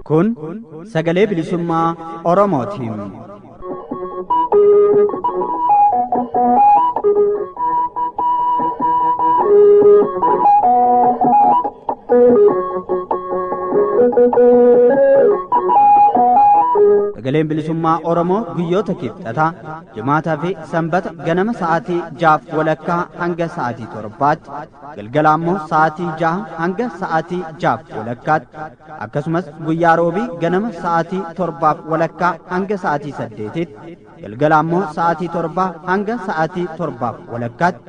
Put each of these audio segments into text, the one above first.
Kun sagalee bilisummaa Oromootiin. Sagaleen bilisummaa Oromoo guyyoota kibxataa jimaataa fi sanbata ganama sa'aatii jaaf walakkaa hanga sa'aatii torbaatti galgala ammoo sa'aatii jaha hanga sa'aatii jaaf walakkaatti akkasumas guyyaa roobii ganama sa'aatii torbaaf walakkaa hanga sa'aatii saddeetiitti galgala ammoo sa'aatii torbaa hanga sa'aatii torbaaf walakkaatti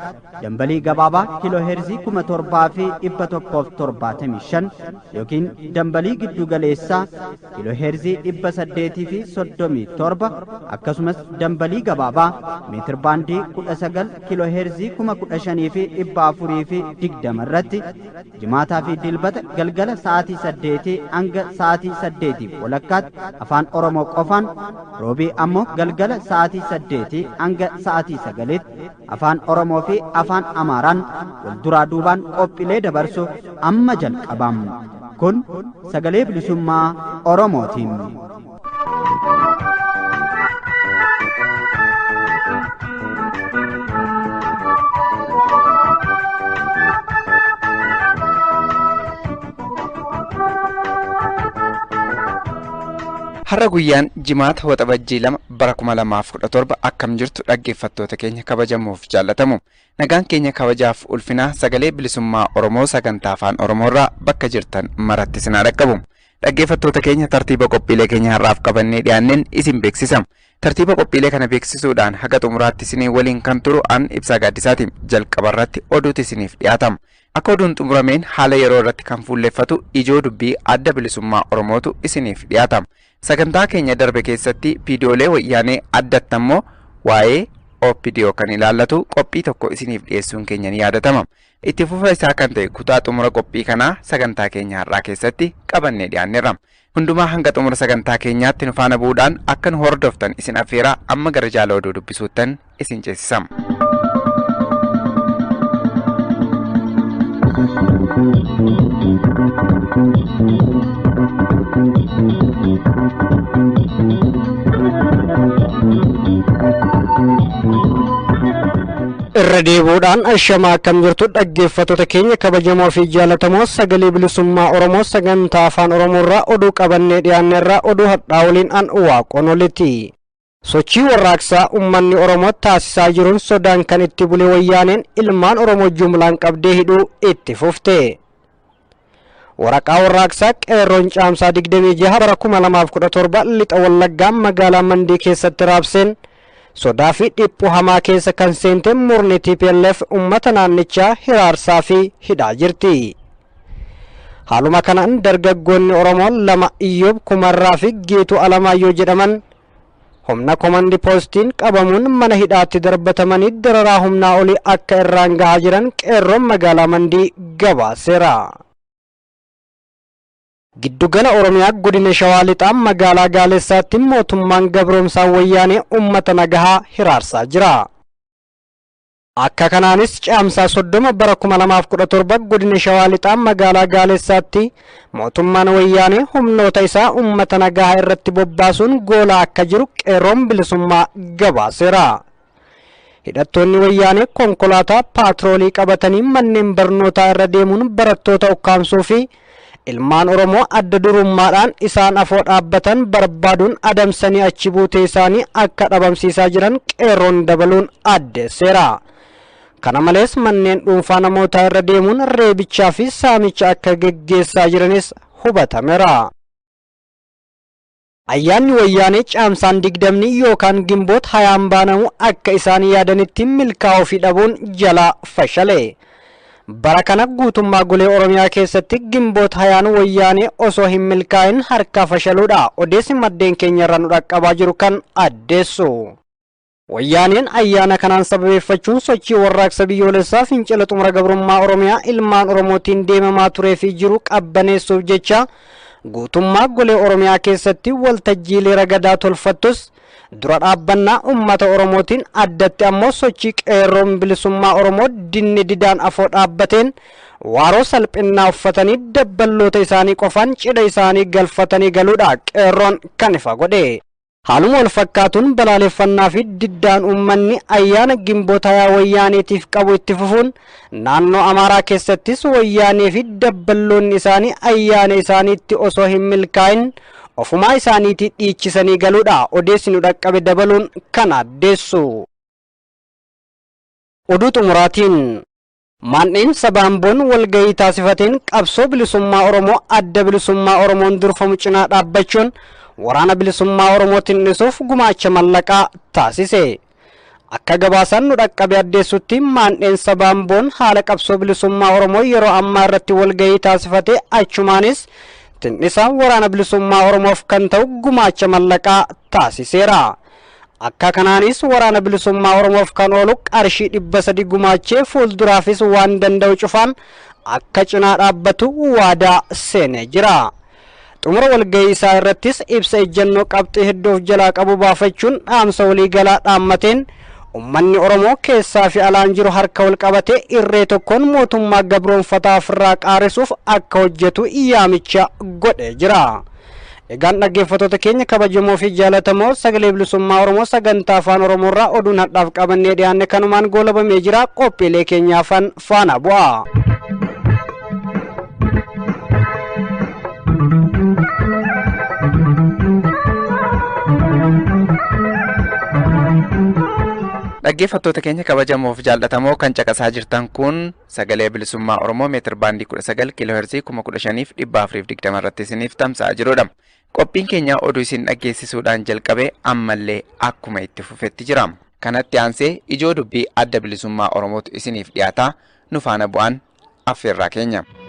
dambalii gabaabaa kiiloo heerzii kuma torbaa fi dhibba tokkoof torbaatamii shan yookiin dambalii giddu galeessaa kiiloo heerzii dhibba saddeetii fi soddomii torba akkasumas dambalii gabaabaa meetir baandii kudha sagal kiiloo heerzii kuma kudha shanii fi dhibba afurii fi digdama irratti Jimaataa fi Dilbata galgala sa'aatii saddeetii hanga sa'aatii saddeetiif walakkaatti afaan Oromoo qofaan, Roobii ammoo galgala sa'aatii saddeetii hanga sa'aatii sagaliitti afaan Oromoo fi afaan Amaaraan wal duraa duubaan qophiilee dabarsu amma jalqabam. Kun sagalee bilisummaa Oromootiin. Har'a guyyaan jimaata waxabajjii lama bara kuma lamaaf kudha torba akkam jirtu dhaggeeffattoota keenya kabajamoof jaallatamu. Nagaan keenya kabajaaf ulfinaa sagalee bilisummaa Oromoo sagantaa afaan Oromoorraa bakka jirtan maratti sinaa dhaqqabu. Dhaggeeffattoota keenya tartiiba qophiilee keenya har'aaf qabannee dhiyaanneen isin beeksisa. Tartiiba qophiilee kana beeksisuudhaan haga xumuraatti isinii waliin kan turu an ibsaa gaaddisaati. Jalqaba irratti oduutu isiniif dhiyaata. Akka oduun xumurameen haala yeroo irratti kan fuulleffatu ijoo dubbii adda bilisummaa Oromootu isiniif dhiyaata. Sagantaa keenya darbe keessatti viidiyoolee wayyaanee addatti ammoo waa'ee OPDO kan ilaallatu qophii tokko isiniif dhiyeessuun keenya ni yaadatama. Itti fufa isaa kan ta'e kutaa xumura qophii kanaa sagantaa keenya har'aa keessatti qabannee dhiyaanneerra. Hundumaa hanga xumura sagantaa keenyaatti nu faana bu'uudhaan akka nu hordoftan isin affeeraa amma gara jaala oduu dubbisuuttan isin ceesisam. Irra deebi'uudhaan ashamaa akkam jirtu dhaggeeffattoota keenya kabajamoo fi jaalatamoo sagalee bilisummaa Oromoo sagantaa afaan Oromoo irraa oduu qabannee dhiyaanne irraa oduu har'aa waliin an waaqoon olitti. Sochii warraaqsaa uummanni Oromoo taasisaa jiruun sodaan kan itti bule wayyaaneen ilmaan Oromoo jumlaan qabdee hidhuu itti fufte. Waraqaa warraaqsaa qeerroon caamsaa 26 bara 2017 lixa wallaggaa magaalaa Mandii keessatti raabseen sodaa fi dhiphuu hamaa keessa kan seente murni TPLF uummata naannichaa hiraarsaa fi hidhaa jirti. Haaluma kanaan dargaggoonni Oromoo lama Iyyoob Kumarraa fi Geetuu Alamaayyoo jedhaman Humna komandi poostiin qabamuun mana hidhaatti darbatamanii dararaa humnaa olii akka irraan gahaa jiran qeerroon magaalaa Mandii gabaaseera. Giddugala Oromiyaa godina Shawaa Lixaa magaalaa Gaalessaatti mootummaan gabroomsaa wayyaanee uummata nagahaa hiraarsaa jira. Akka kanaanis caamsaa 30 bara 2017 godina Shawaa Lixaa magaalaa Gaalessaatti mootummaan wayyaanee humnoota isaa uummata nagaa irratti bobbaasuun goolaa akka jiru qeerroon bilisummaa gabaaseera. Hidhattoonni wayyaanee konkolaataa paatroolii qabatanii manneen barnootaa irra deemuun barattoota ukkaamsuu fi Ilmaan Oromoo adda durummaadhaan isaan afoo dhaabbatan barbaaduun adamsanii achi buutee isaanii akka dhabamsiisaa jiran qeerroon dabaluun addeesseera. Kana malees manneen dhuunfaa namootaa irra deemuun reebichaa fi saamicha akka geggeessaa jiranis hubatameera. Ayyaanni Wayyaanee Caamsaan digdamni yookaan Gimboot hayaan baanamu akka isaan yaadanitti milkaa'uu fi dhabuun jalaa fashale. Bara kana guutummaa golee Oromiyaa keessatti Gimboot hayaan Wayyaanee osoo hin milkaa'in harkaa fashaluudha odeessi maddeen keenya irraa nu dhaqqabaa jiru kan addeessu. Wayyaaneen ayyaana kanaan sababeeffachuun sochii warraaqsa biyyoolessaa fincila xumura gabrummaa Oromiyaa ilmaan Oromootiin deemamaa turee fi jiru qabbaneessuuf jecha guutummaa golee Oromiyaa keessatti waltajjiilee ragadaa tolfattus dura dhaabbannaa uummata Oromootiin addatti ammoo sochii qeerroon bilisummaa Oromoo dinni didaan afoo dhaabbateen waaroo salphinnaa uffatanii dabballoota isaanii qofaan cidha isaanii galfatanii galuudha qeerroon kan ifa godhe. Haaluma wal fakkaatuun balaaleffannaa fi diddaan uummanni ayyaana Ginboot hayaa Wayyaaneetiif qabu itti fufuun naannoo Amaaraa keessattis Wayyaanee fi dabballoonni isaanii ayyaana isaaniitti osoo hin milkaa'in ofumaa isaaniitii dhiichisanii galuudha odeessi nu dhaqqabe dabaluun kan addeessu. Oduu xumuraatiin. Maandheen saba Amboon walgahii taasifateen qabsoo bilisummaa Oromoo adda bilisummaa Oromoon durfamu cinaa dhaabbachuun waraana bilisummaa Oromoo tin'isuuf gumaacha mallaqaa taasise. Akka gabaasaan nu dhaqqabe addeessutti maandheen saba Amboon haala qabsoo bilisummaa Oromoo yeroo ammaa irratti walgahii taasifate achumaanis tin'isa waraana bilisummaa Oromoof kan ta'u gumaacha mallaqaa taasiseera. Akka kanaanis Waraana Bilisummaa Oromoof kan oolu qarshii dhibba sadi gumaachee fuulduraafis waan danda'u cufaan akka cinaa dhaabbatu waadaa seenee jira. Xumura walgahii isaa irrattis ibsa ejjennoo qabxii hedduu of jalaa qabu baafachuun dhaamsa waliigalaa dhaammateen ummanni Oromoo keessaa fi alaan jiru harka wal qabatee irree tokkoon mootummaa gabroonfataa ofirraa qaarisuuf akka hojjetu yaamicha godhee jira. Egaan dhaggeeffattoota keenya kabajamoo fi jaalatamoo sagalee bilisummaa Oromoo sagantaa afaan Oromoo irraa oduun hadhaaf qabannee dhiyaanne kanumaan goolabamee jira qophiilee keenya afaan faana bu'aa. Dhaggeeffattoota keenya kabajamoof jaallatamoo kan caqasaa jirtan kun Sagalee Bilisummaa Oromoo meetir baandii 19 kiilooherzii 15420 irratti isiniif tamsa'a jirudha. Qophiin keenya oduu isin dhaggeessisuudhaan jalqabe ammallee akkuma itti fufetti jira. Kanatti aansee ijoo dubbii adda bilisummaa Oromootu isiniif dhiyaata. Nu faana bu'aan affeerraa keenya.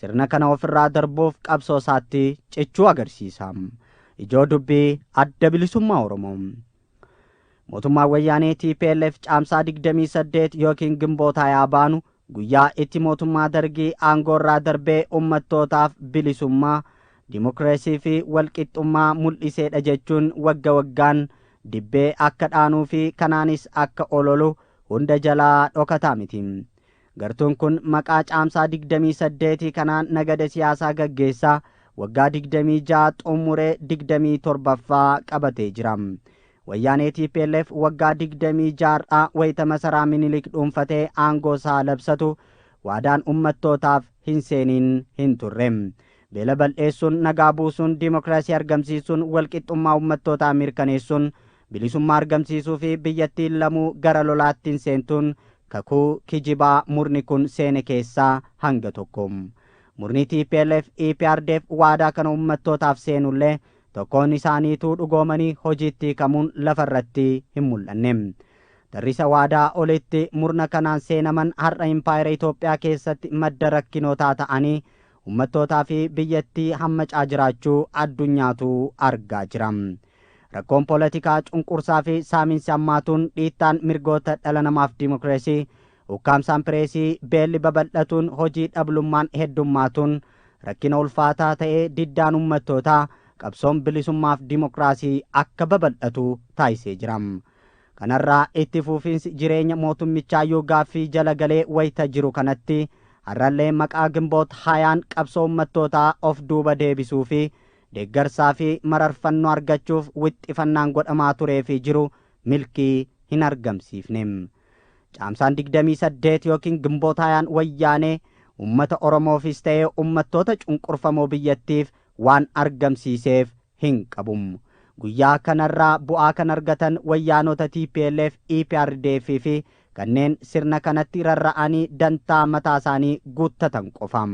Sirna kana ofirraa darbuuf qabsoo isaatti cichuu agarsiisa. Ijoo dubbii adda bilisummaa Oromoo. Mootummaan Wayyaanee TPLF caamsaa 28 yookiin gimbootaa yaa baanu guyyaa itti mootummaa dargii aangoorraa darbee ummattootaaf bilisummaa, dimokiraasii fi walqixxummaa mul'iseedha jechuun wagga waggaan dibbee akka dhaanuu fi kanaanis akka ololu hunda jalaa dhokataa miti. Gartuun kun maqaa Caamsaa 28 kanaan nagada siyaasaa gaggeessaa waggaa 26 xummuree 27ffaa qabatee jira. Wayyaanee tplf waggaa 26rraa wayita masaraa Minilik dhuunfatee aangoo isaa labsatu waadaan ummattootaaf hin seeniin hin turre. Beela bal'eessuun, nagaa buusuun, dimokiraasii argamsiisuun, walqixxummaa ummattootaa mirkaneessuun bilisummaa argamsiisuu fi biyyattiin lamuu gara lolaatti hin seentuun kakuu kijibaa murni kun seene keessaa hanga tokko. Murni tplf, EPRDF waadaa kana ummattootaaf seenullee tokkoon isaaniituu dhugoomanii hojiitti hiikamuun lafa irratti hin mul'anne. Tarrisa waadaa olitti murna kanaan seenaman har'a impaayera Itoophiyaa keessatti madda rakkinootaa ta'anii ummattootaa fi biyyattii hammacaa jiraachuu addunyaatu argaa jira. Rakkoon poolatikaa cunqursaa fi saaminsi hammaatuun, dhiittaan mirgoota dhala namaaf dimokreesii, ukkaamsaan pireesii, beelli babal'atuun, hojii dhablummaan heddummaatuun rakkina ulfaataa ta'ee diddaan ummattootaa, qabsoon bilisummaaf dimokiraasii akka babal'atu taasisee jira. Kanarraa itti fuufiinsi jireenya mootummichaa yoo gaaffii jala galee wayita jiru kanatti har'allee maqaa Ginboot hayaan qabsoo ummattootaa of duuba deebisuu fi deeggarsaa fi mararfannoo argachuuf wixxifannaan godhamaa turee fi jiru milkii hin argamsiifne. Caamsaan 28 ykn Ginboot hayaan Wayyaanee ummata Oromoofiis ta'ee ummattoota cunqurfamoo biyyattiif waan argamsiiseef hin qabu. Guyyaa kanarraa bu'aa kan argatan wayyaanota tplf, eprdf fi kanneen sirna kanatti rarra'anii dantaa mataasaanii guuttatan qofa.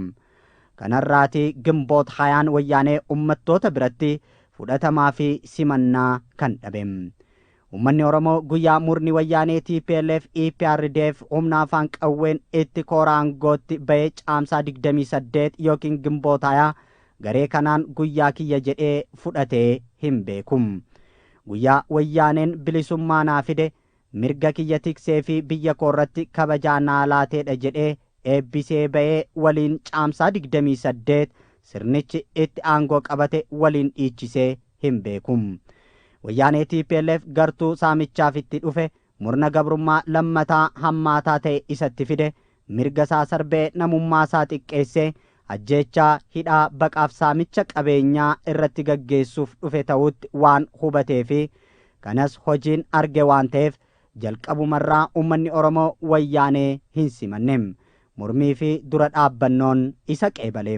Kanarraati Ginboot 20n wayyaanee ummattoota biratti fudhatamaa fi simannaa kan dhabe. Uummanni Oromoo guyyaa murni wayyaanee tplf, EPRDF humna afaan qawween itti koora aangootti ba'ee caamsaa 28 yookiin gimbootaayaa garee kanaan guyyaa kiyya jedhee fudhatee hin beeku. Guyyaa wayyaaneen bilisummaa naa fide, mirga kiyya tiksee fi biyya koorratti kabajaa naa laateedha jedhee eebbisee ba'ee waliin Caamsaa 28 sirnichi itti aangoo qabate waliin dhiichisee hin beeku. Wayyaanee tplf gartuu saamichaaf itti dhufe murna gabrummaa lammataa hammaataa ta'e isatti fide mirga isaa sarbee namummaa isaa xiqqeessee ajjeechaa, hidhaa, baqaaf saamicha qabeenyaa irratti gaggeessuuf dhufe ta'uutti waan hubatee fi kanas hojiin arge waan ta'eef Jalqabumarraa ummanni Oromoo Wayyaanee hin simanne. Mormii fi dura dhaabbannoon isa qeebale.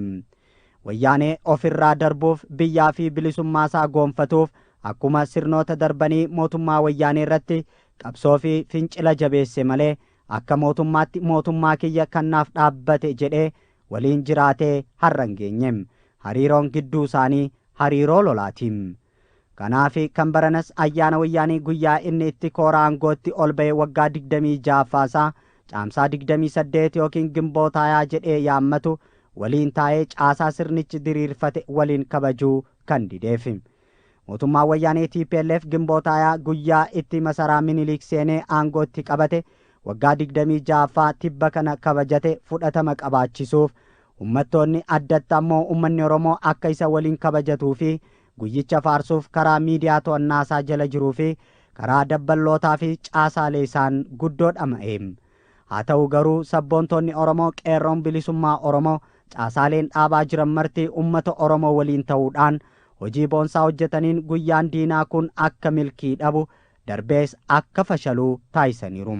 Wayyaanee of irraa darbuuf, biyyaa fi bilisummaasaa goonfatuuf akkuma sirnoota darbanii mootummaa Wayyaanee irratti qabsoo fi fincila jabeesse malee akka mootummaatti mootummaa kiyya kan naaf dhaabbate jedhee waliin jiraatee har'a hin geenye. Hariiroon gidduu isaanii hariiroo lolaati. Kanaafi kan baranas ayyaana Wayyaanee guyyaa inni itti kooraa aangootti ol ba'e waggaa 26ffaa isaa Caamsaa 28 ykn Gimbootaayaa jedhee yaammatu waliin taa'ee caasaa sirnichi diriirfate waliin kabajuu kan dideefi. Mootummaan Wayyaanee tplf Gimbootaayaa guyyaa itti masaraa Miniliik seenee aangoo itti qabate waggaa 26ffaa tibba kana kabajate fudhatama qabaachisuuf Ummattoonni addatti ammoo ummanni Oromoo akka isa waliin kabajatuu fi guyyicha faarsuuf karaa miidiyaa to'annaa isaa jala jiruu fi karaa dabballootaa fi caasaalee isaan guddoo dhama'e. Haa ta'u garuu sabboontoonni Oromoo Qeerroon Bilisummaa Oromoo caasaaleen dhaabaa jiran marti ummata Oromoo waliin ta'uu dhaan hojii boonsaa hojjetaniin guyyaan diinaa kun akka milkii dhabu darbees akka fashalu taasisaniiru.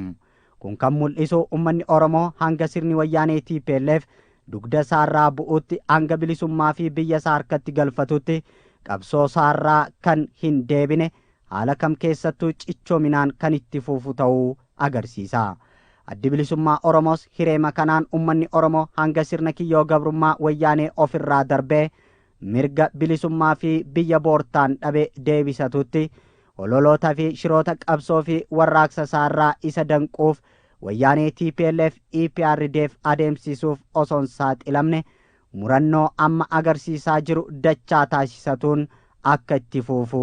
Kun kan mul'isu ummanni Oromoo hanga sirni wayyaanee tplf dugda isaarraa bu'utti hanga bilisummaa fi biyya isaa harkatti galfatutti qabsoo isaarraa kan hin deebine haala kam keessattuu cichoominaan kan itti fufu ta'uu agarsiisa. Addi Bilisummaa Oromoos hireema kanaan ummanni Oromoo hanga sirna kiyyoo gabrummaa wayyaanee of irraa darbee mirga bilisummaa fi biyya boortaan dhabe deebisatutti hololoota fi shiroota qabsoo fi warraaqsa isaarraa isa danquuf wayyaanee tplf eprdf adeemsisuuf osoon saaxilamne murannoo amma agarsiisaa jiru dachaa taasisatuun akka itti fuufu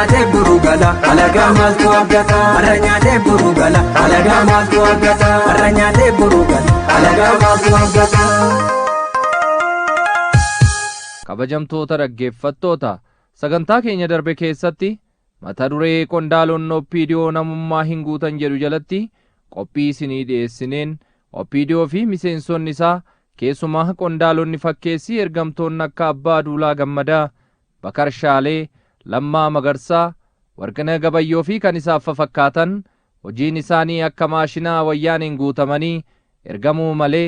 nyaatee buru gala alagaa maaltu argata warra nyaatee buru gala alagaa maaltu argata warra nyaatee buru gala alagaa maaltu argata. kabajamtoota dhaggeeffattoota sagantaa keenya darbe keessatti mata duree qondaalonni oppiidiyoo namummaa hin guutan jedhu jalatti qophii isinii dhiyeessineen oppiidiyoo fi miseensonni isaa keessumaa qondaalonni fakkeessii ergamtoonni akka abbaa duulaa gammadaa Bakar Shaalee, Lammaa Magarsaa, Warqinah Gabayyoo fi kan isaaf fafakkaatan hojiin isaanii akka maashinaa wayyaaneen guutamanii ergamuu malee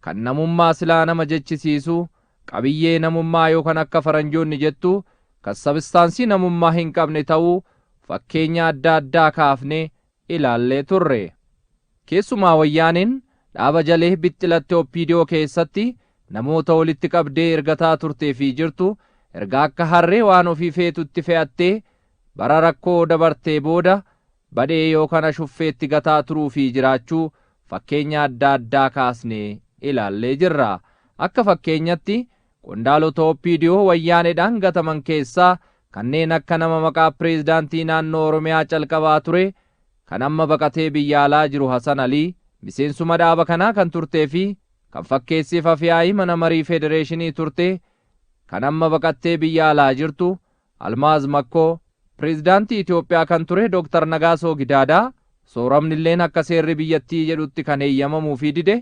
kan namummaa silaa nama jechisiisu qabiyyee namummaa yookan akka faranjoonni jettu kan sabistaansii namummaa hin qabne ta'uu fakkeenya adda addaa kaafnee ilaallee turre. Keessumaa Wayyaaneen dhaaba jalee bixxilatte Opdo keessatti namoota walitti qabdee ergataa turtee fi jirtu erga akka harree waan ofii feetutti fe'attee bara rakkoo dabartee booda badhee yookan ashuffeetti gataa turuu fi jiraachuu fakkeenya adda addaa kaasnee ilaallee jirra. Akka fakkeenyatti Qondaalota OPDO Wayyaaneedhaan gataman keessaa kanneen akka nama maqaa Pireezidaantii Naannoo Oromiyaa calqabaa ture kan amma baqatee biyya alaa jiru Hasan Alii, miseensuma dhaaba kanaa kan turtee fi kan fakkeessiif Afyaa'ii Mana Marii Federeeshinii turte kan amma baqattee biyya alaa jirtu Almaaz Makkoo, Pireezidaantii Itoophiyaa kan ture Dr. Nagaasoo Gidaadaa, sooramnilleen akka seerri biyyattii jedhutti kan heeyyamamuufii dide,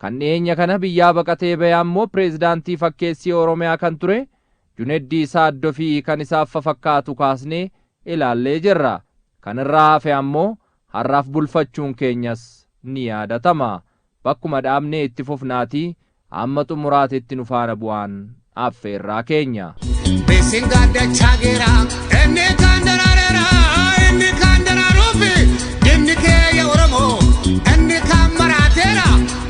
Kan dhiyeenya kana biyyaa baqatee bahe ammoo pireezidaantii fakkeessii Oromiyaa kan ture Juneddii Saaddo fi kan isaaf fafakkaatu kaasnee ilaallee jirra. Kan irraa hafe ammoo har'aaf bulfachuun keenyas ni yaadatama. Bakkuma dhaabne itti fufnaatii amma xumuraatitti nu faana bu'aan affeerraa keenya. Beekseen gaaddachaa geera inni kaan daraareera inni kaan daraaruufi inni keeyya oromoo inni kaan maraateera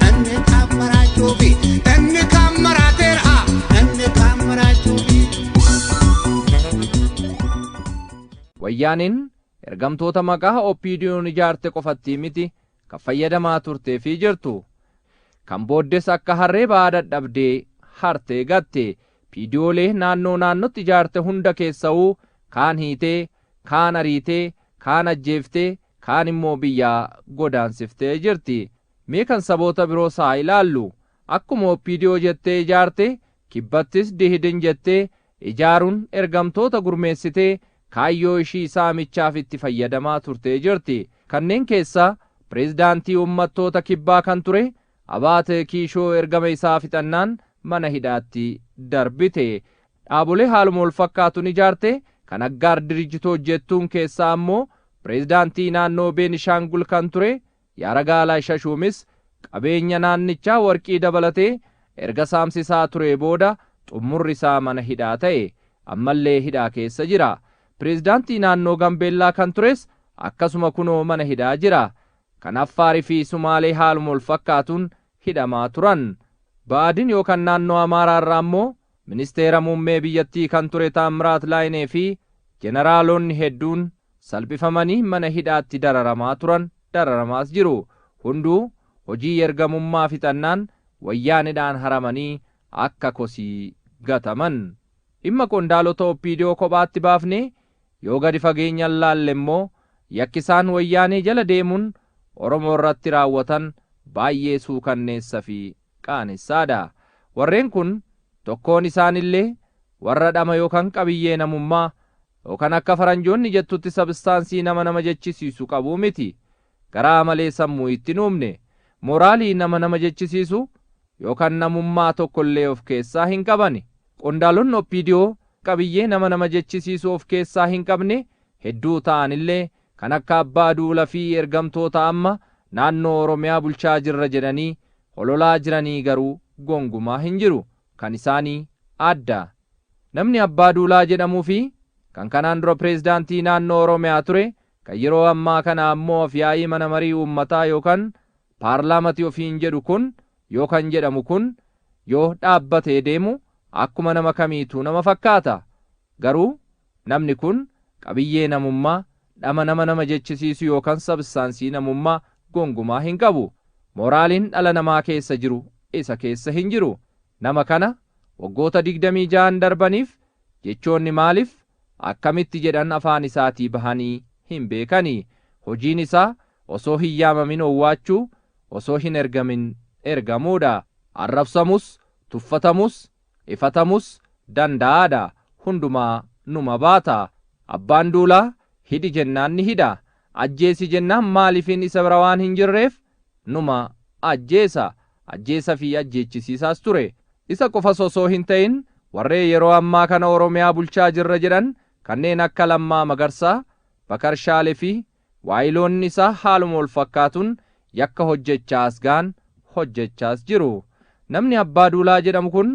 inni kaan maraachuufi inni kaan maraateera inni kaan maraachuufi. Wayyaaneen ergamtoota maqaa OPDO'n ijaarte qofattii miti kan fayyadamaa turtee fi jirtu kan booddes akka harree ba'aa dadhabdee hartee gatte piidiyoolee naannoo naannotti ijaarte hunda keessa'uu kaan hiitee kaan ariitee kaan ajjeeftee kaan immoo biyyaa godaansiftee jirti mee kan saboota biroos haa ilaallu akkuma oppiidiyoo jettee ijaarte kibbattis dihidin jettee ijaaruun ergamtoota gurmeessitee kaayyoo ishii saamichaaf itti fayyadamaa turtee jirti. Kanneen keessaa Pireezidaantii Ummattoota Kibbaa kan ture Abaate Kiishoo ergama isaa fixannaan mana hidhaatti darbite. Dhaabolee haaluma walfakkaatuun ijaarte kan Aggaar Dirijjitoot jettuun keessaa ammoo Pireezidaantii naannoo Beenishaangul kan ture Yaaragaalaay Shashuumis qabeenya naannichaa warqii dabalatee erga saamsisaa turee booda xummurri isaa mana hidhaa ta'e. Ammallee hidhaa keessa jira. Pireezidaantii naannoo Gambeellaa kan tures akkasuma kunoo mana hidhaa jira. Kan Affaar fi Sumaalee haaluma wal fakkaatuun hidhamaa turan. Ba'aadin yookan naannoo Amaaraa irraa ammoo ministeera muummee biyyattii kan ture Taammiraat Laayinee fi jeneraalonni hedduun salphifamanii mana hidhaatti dararamaa turan, dararamaas jiru. Hunduu hojii ergamummaa fixannaan Wayyaanedhaan haramanii akka kosii gataman. Dhimma qondaalota OPDO kophaatti baafnee Yoo gadi fageenyaan laalle immoo yakki isaan Wayyaanee jala deemuun Oromoo irratti raawwatan baay'ee suukanneessa fi qaanessa dha. Warreen kun tokkoon isaan illee warra dhama yookan qabiyyee namummaa yookan akka faranjoonni jettutti sabstaansii nama nama jechisiisu qabu miti. garaa malee sammuu itti hin uumne. Moraalii nama nama jechisiisu yookan namummaa tokkollee of keessaa hin qabani. Qondaalonni OPDO qabiyyee nama nama jechisiisu of keessaa hin qabne hedduu ta'anillee kan akka abbaa duula fi ergamtoota amma naannoo Oromiyaa bulchaa jirra jedhanii hololaa jiranii garuu gongumaa hin jiru. Kan isaanii adda. Namni abbaa duulaa jedhamuu fi kan kanaan dura pireezidaantii naannoo Oromiyaa ture Kan yeroo ammaa kana ammoo afyaa'ii mana marii uummataa yookan paarlaamati ofiin jedhu kun yookan jedhamu kun yoo dhaabbatee deemu akkuma nama kamiituu nama fakkaata. Garuu namni kun qabiyyee namummaa, dhama nama nama jechisiisu yookan sabstaansii namummaa gongumaa hin qabu. Mooraaliin dhala namaa keessa jiru isa keessa hin jiru. Nama kana waggoota 26n darbaniif jechoonni maalif akkamitti jedhan afaan isaatii bahanii hin beekani. Hojiin isaa osoo hin yaamamin owwaachuu, osoo hin ergamin ergamuudha. Arrabsamus, tuffatamus, ifatamus danda'aadha. Hundumaa numa baata. Abbaan Duulaa hidhi jennaan ni hidha. Ajjeesi jennaan maaliifin isa bira waan hin jirreef Numa ajjeesa, ajjeesa fi ajjeechisiisaas ture. Isa qofas osoo hin ta'in warree yeroo ammaa kana Oromiyaa bulchaa jirra jedhan kanneen akka Lammaa Magarsaa, Bakar Shaale fi waayiloonni isaa haaluma wal fakkaatun yakka hojjechaa as ga'an hojjechaas jiru. Namni Abbaa Duulaa jedhamu kun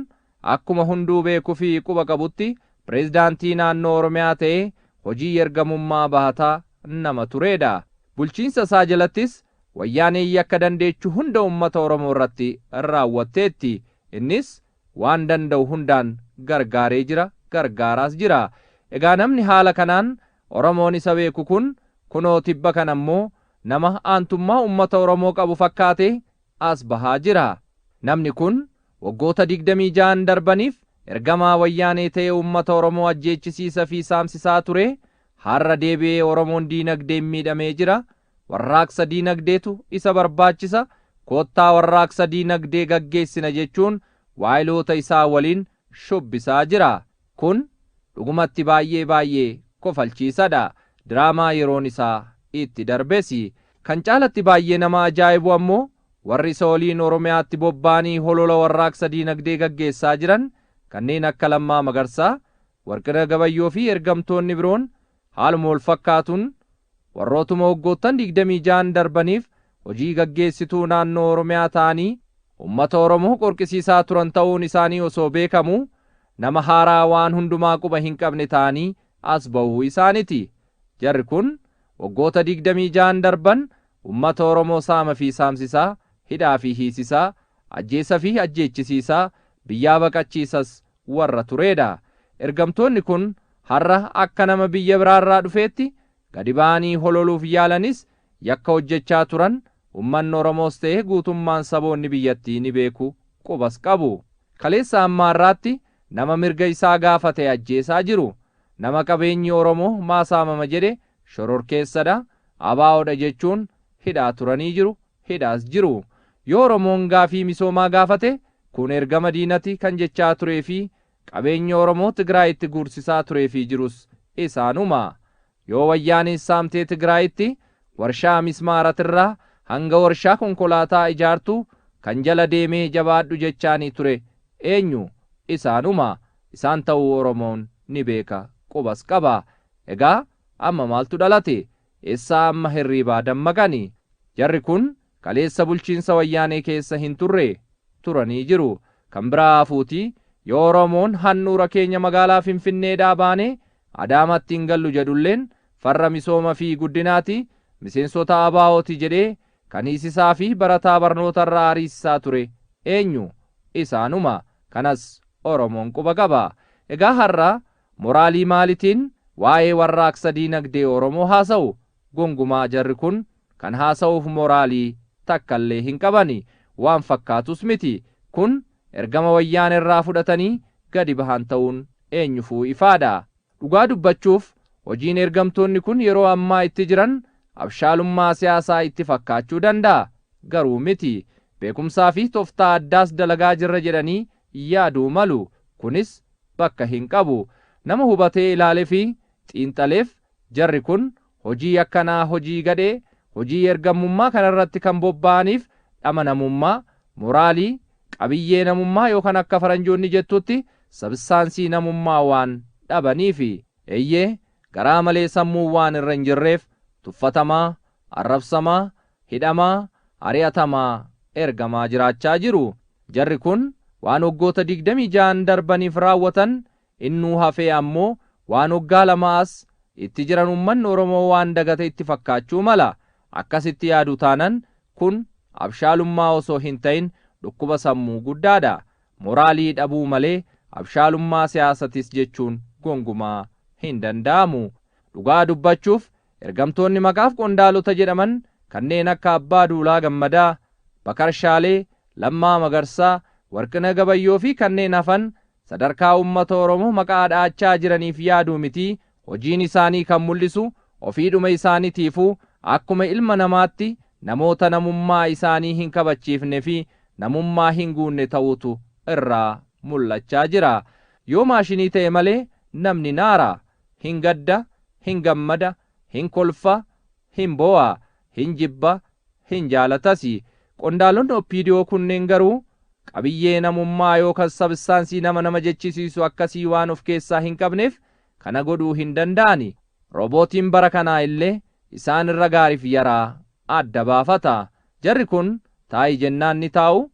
Akkuma hunduu beeku fi quba qabutti Preezdaantii naannoo Oromiyaa ta'ee hojii yergamummaa bahataa nama tureedha. Bulchiinsa isaa jalattis Wayyaaneen yakka dandeechu hunda ummata Oromoo irratti raawwatteetti. Innis waan danda'u hundaan gargaaree jira, gargaaraas jira. Egaa namni haala kanaan Oromoon isa beeku kun kunoo tibba kana immoo nama aantummaa ummata Oromoo qabu fakkaatee as bahaa jira. Namni kun waggoota 26n darbaniif ergamaa wayyaanee ta'ee uummata Oromoo ajjeechisiisa fi saamsisaa turee har'a deebi'ee Oromoon diinagdeen miidhamee jira, warraaqsa diinagdeetu isa barbaachisa, koottaa warraaqsa diinagdee gaggeessina jechuun waayiloota isaa waliin shubbisaa jira. Kun dhugumatti baay'ee baay'ee kofalchiisadha. Diraamaa yeroon isaa itti darbesi. Kan caalatti baay'ee nama ajaa'ibu ammoo warri isa waliin Oromiyaatti bobba'anii holola warraaqsa diinagdee gaggeessaa jiran kanneen akka Lammaa Magarsaa, Warqinah Gabayyoo fi ergamtoonni biroon Haaluma walfakkaatuun, warrootuma waggoottan 26n darbaniif hojii gaggeessituu naannoo Oromiyaa ta'anii ummata Oromoo qorqisiisaa turan ta'uun isaanii osoo beekamuu, nama haaraa waan hundumaa quba hin qabne ta'anii as bahuu isaaniti. Jarri kun waggoota 26n darban ummata Oromoo saama fi saamsisaa, hidhaa fi hiisisaa, ajjeessa fi ajjeechisiisaa, biyyaa baqachiisas warra tureedha. Ergamtoonni kun har'a akka nama biyya biraarraa dhufeetti gadi ba'anii hololuuf yaalanis yakka hojjechaa turan ummanni Oromoos ta'e guutummaan saboonni biyyattii ni beeku, qubas qabu. Kaleessa hamma har'aatti nama mirga isaa gaafate ajjeesaa jiru. Nama qabeenyi Oromoo maa saamama jedhe shororkeessadha, ABOdha jechuun hidhaa turanii jiru, hidhaas jiru. Yoo Oromoon gaafii misoomaa gaafate Kun ergama diinati kan jechaa turee fi qabeenyi Oromoo Tigraayitti guursisaa turee fi jirus isaanuma. Yoo Wayyaaneen saamtee Tigraayitti warshaa mismaaratirraa hanga warshaa konkolaataa ijaartu kan jala deemee jabaadhu jechaanii ture eenyu? Isaanuma. Isaan ta'uu Oromoon ni beeka, qubas qaba. Egaa amma maaltu dhalate? Eessaa amma hirriibaa dammaqani? Jarri kun kaleessa bulchiinsa wayyaanee keessa hin turre turanii jiru kan biraa hafuuti yoo oromoon handhuura keenya magaalaa finfinneedhaa baanee adaamaatti hin gallu jedhulleen farra misooma fi guddinaati miseensota ABOti jedhee kan hiisisaa fi barataa barnoota irraa ariisisaa ture eenyu isaanuma kanas oromoon quba qaba egaa har'a moraalii maalitiin waa'ee warraaqsa diinagdee oromoo haasa'u Gongumaa jarri kun kan haasa'uuf moraalii takkallee hin qabani. Waan fakkaatus miti. Kun ergama Wayyaanerraa fudhatanii gadi bahan ta'uun eenyufuu ifaadha. Dhugaa dubbachuuf hojiin ergamtoonni kun yeroo ammaa itti jiran abshaalummaa siyaasaa itti fakkaachuu danda'a. Garuu miti. Beekumsaafi toftaa addaas dalagaa jirra jedhanii yaaduu malu. Kunis bakka hin qabu. Nama hubatee ilaalefi xiinxaleef jarri kun hojii yakkanaa hojii gadhee hojii ergammummaa kanarratti kan bobba'aniif dhama namummaa, moraalii, qabiyyee namummaa yookan akka faranjoonni jettutti sabissaansii namummaa waan dhabaniifi. Eeyyee garaa malee sammuun waan irra hin jirreef tuffatamaa, arrabsamaa, hidhamaa, ari'atamaa, ergamaa jiraachaa jiru. Jarri kun waan waggoota 26n darbaniif raawwatan Innuu hafee ammoo waan waggaa lama as itti jiran ummanni Oromoo waan dagate itti fakkaachuu mala. Akkasitti yaadu taanan kun abshaalummaa osoo hin ta'in dhukkuba sammuu guddaadha. Moraalii dhabuu malee abshaalummaa siyaasatis jechuun gongumaa hin danda'amu. Dhugaa dubbachuuf ergamtoonni maqaaf qondaalota jedhaman kanneen akka Abbaa Duulaa Gammadaa, Bakar Shaalee, Lammaa Magarsaa, Warqinah Gabayyoo fi kanneen hafan sadarkaa uummata Oromoo maqaa dha'achaa jiraniif yaaduu miti, hojiin isaanii kan mul'isu ofiidhuma isaanitiifuu akkuma ilma namaatti namoota namummaa isaanii hin kabachiifne fi namummaa hin guunne ta'uutu irraa mul'achaa jira. Yoo maashinii ta'e malee namni naara, hin gadda, hin gammada, hin kolfa, Hin boo'a, hin jibba, hin jaalatasi. Qondaalonni Oppiidiyoo kunneen garuu qabiyyee namummaa yookas sabistaansii nama nama jechisiisu akkasii waan of keessaa hin qabneef kana godhuu hin danda'ani. Roobootiin bara kanaa illee isaan irra gaariif yaraa adda baafata. Jarri kun taa'i jennaan ni taa'u,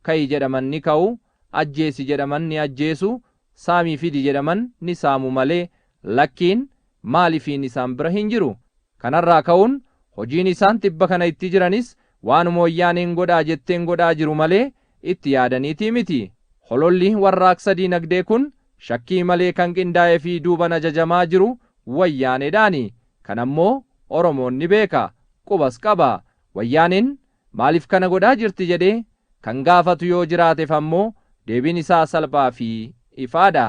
ka'i jedhaman ni ka'u, ajjeesi jedhaman ni ajjeesu, saamii fidi jedhaman ni saamu malee lakkiin, maalifiin isaan bira hin jiru. Kanarraa ka'uun hojiin isaan tibba kana itti jiranis waanuma Wayyaaneen godhaa jetteen godhaa jiru malee itti yaadaniitii miti. Hololli warraaqsa diinagdee kun shakkii malee kan qindaa'ee fi duuban ajajamaa jiru Wayyaaneedhaani. Kanammoo Oromoon ni beeka. Qubas qaba. Wayyaaneen Maaliif kana godhaa jirti jedhee kan gaafatu yoo jiraatef ammoo deebiin isaa salphaa fi ifaa dha.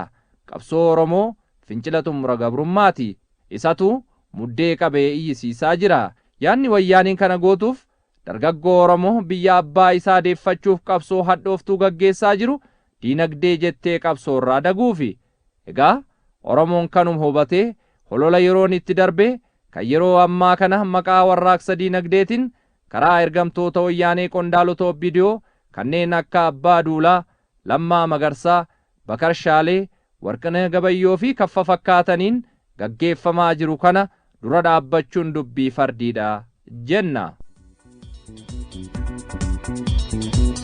Qabsoo Oromoo fincila xumura gabrummaa ti. Isatu muddee qabee iyyisiisaa jira. Yaadni Wayyaaneen kana gootuuf dargaggoo Oromoo biyya abbaa isaa deeffachuuf qabsoo hadhooftuu gaggeessaa jiru diinagdee jettee qabsoo irraa daguufi. Egaa Oromoon kanuma hubatee holola yeroon itti darbee kan yeroo ammaa kana maqaa warraaqsa diinagdeetin Karaa ergamtoota Wayyaanee qondaalota OPDO kanneen akka Abbaa Duulaa, Lammaa Magarsaa, Bakar Shaalee, Warqinah Gabayyoo fi kfkfakkaataniin gaggeeffamaa jiru kana dura dhaabbachuun dubbii fardiidha jenna.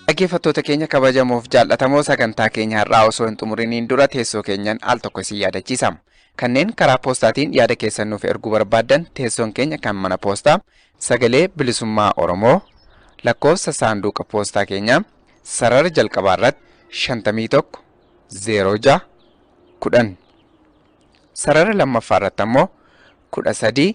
Dhaggeeffattoota keenya kabajamoof jaal'atamoo sagantaa keenya har'aa osoo hin xumuriniin dura teessoo keenyan al tokko isin yaadachiisa. Kanneen karaa poostaatiin yaada keessan nuuf erguu barbaaddan teessoon keenya kan mana poostaa Sagalee Bilisummaa Oromoo lakkoofsa saanduuqa poostaa keenyaa sarara jalqabaa irratti 51 06 10 sarara lammaffaa irratti ammoo 13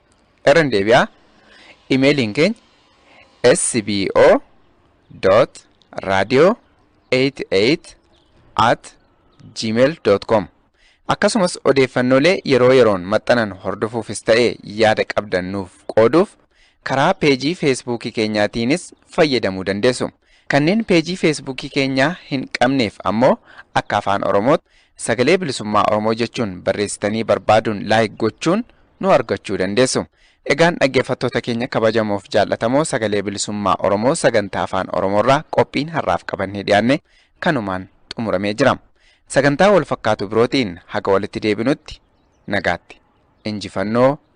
Irra hin deebi'aa. Imeeliin keenya sbo dot radio 88 at gmail dot com akkasumas odeeffannoolee yeroo yeroon maxxanan hordofuufis ta'e yaada qabdan nuuf qooduuf karaa peejii feesbuukii keenyaatiinis fayyadamuu dandeessu. Kanneen peejii feesbuukii keenyaa hin qabneef ammoo akka afaan oromootti Sagalee Bilisummaa Oromoo jechuun barreessitanii barbaaduun like gochuun nu argachuu dandeessu. Egaan dhaggeeffattoota keenya kabajamoof jaallatamoo Sagalee Bilisummaa Oromoo sagantaa afaan Oromoorraa qophiin har'aaf qabannee dhiyaanne kanumaan xumuramee jira. Sagantaa wal fakkaatu birootiin haga walitti deebinutti nagaatti. Injifannoo